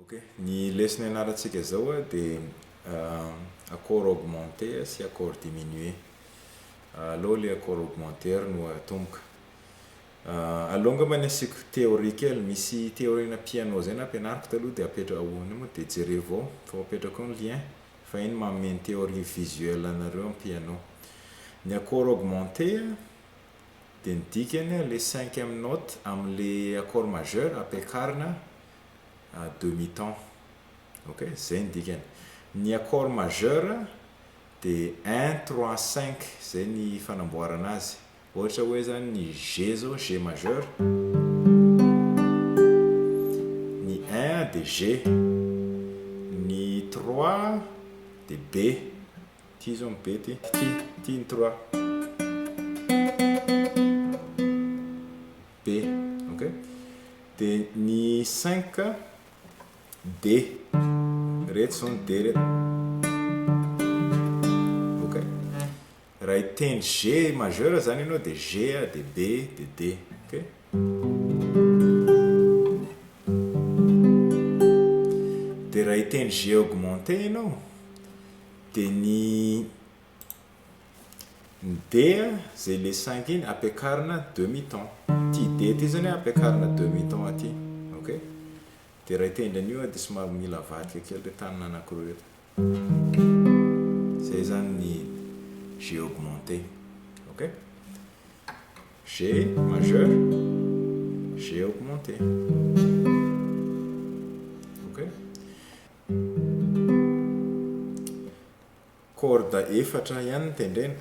Ok, ny lesona ianarantsika izao dia accord augmenté sy accord diminué. Aleo ilay accord augmenté ary no atomboka. Aleo angamba ny asiako théorie kely, misy théorie ana piano izay nampianariko taloha dia apetraka ao eo moa dia jerevo ao fa apetrako eo ny lien fa iny manome ny théorie visuelle anareo amin'ny piano. Ny accord augmenté dia ny dikany ilay cinquième note amin'ilay accord majeur ampiakarina à demi temps ok zay ny dikany ny accord majeur de un trois cinq zay ny fanamboarana azy ohatra hoe zany ny G zao G majeur ny un de G ny trois de B ty zao ny B ty ty ny trois be ok de ny cinq D reto zao ny D reto ok raha hitendry G majeur zany ianao de G de B de D ok de raha hitendry G augmenté ianao de ny Ny dia zay le cinq iny ampiakarina demi ton. Ty dia ty zany ampiakarina demi ton aty. Ok? Dia iray tendry anio dia somary mila avadika kely reto tanana anankiroa reto. Zay zany ny G augmenté. Ok? G majeur, G augmenté. Ok? Corde efatra ihany no tendrena.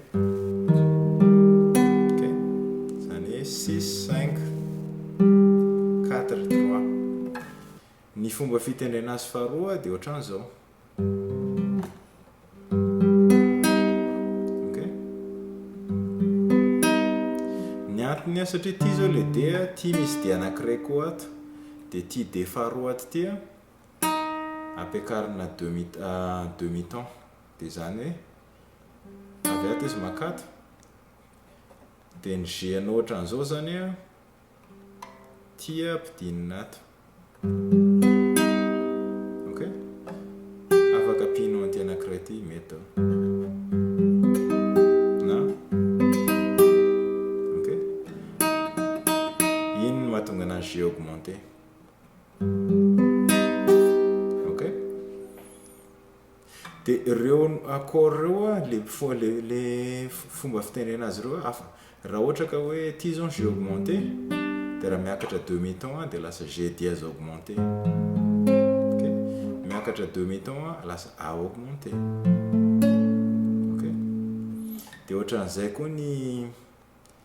Ok. Izany hoe six, cinq, quatre, trois. Ny fomba fitendrena azy faharoa dia ohatran'izao. Ok. Ny antony satria ity izao ilay D, ity misy D anankiray koa ato. Dia ity D faharoa ato ity. ampiakarina demi demi temps dia izany hoe avy ato izy makato dia ny g anao ohatran'izao izany a tia ampidinina ato ok afaka pino anty anankiray ity mety eo na ok iny mahatonga anazy g augmenté ok de reo accord reo a le fo- le le f- fomba fitenena azy reo hafa raha ohatra ka hoe ty zao ny jeu augmenté de raha miakatra demi ton a de lasa jeu dièse augmenté ok miakatra demi ton a lasa a augmenté ok de ohatran'izay koa ny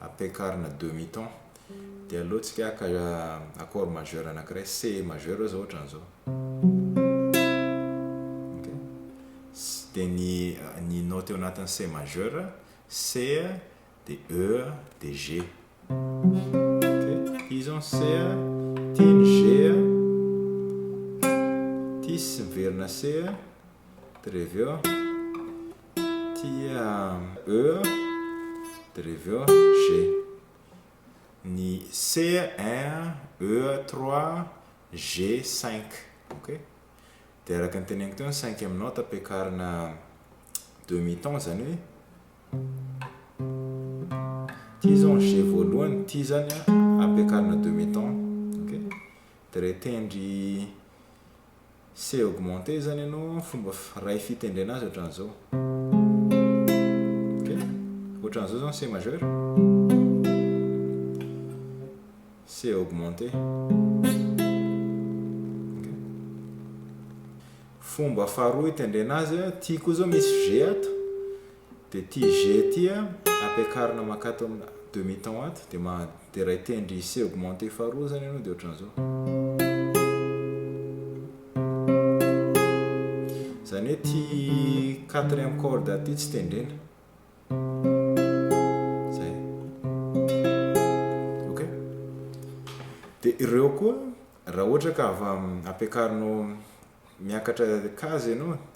ampiakarina demi ton dia aleo tsika haka accord majeur anakiray C majeur oe zao ohatrany zao ok dia ny ny note eo anatiny C majeur C dia E dia G ok izy on C ity ny G ity sy miverina C dia reveo Tia E dia reveo G. Ny C 1, E 3, G 5. Ok? Dia araka ny teneniko teo ny 5 amin'ny note ampiakarina demi ton izany hoe ity izao ny G voalohany, ity izany ampiakarina demi ton. Ok? Dia rehetendry c'est augmenter zany ianao an, fomba iray fitendrena azy ohatran'izao. Ok? Ohatran'izao zao ny C majeur. C'est augmenter. fomba faharoa itendrena azy, ity koa zao misy G ato, Dia ity G ity an, ampiakarina mankato amina demi ton ato, dia manderay tendry C augmenté faharoa izany ianao dia ohatran'izao. Izany hoe ity quatrième corde ity tsy tendrena. Izay. Ok? Dia ireo koa, raha ohatra ka ampiakarinao miakatra case ianao,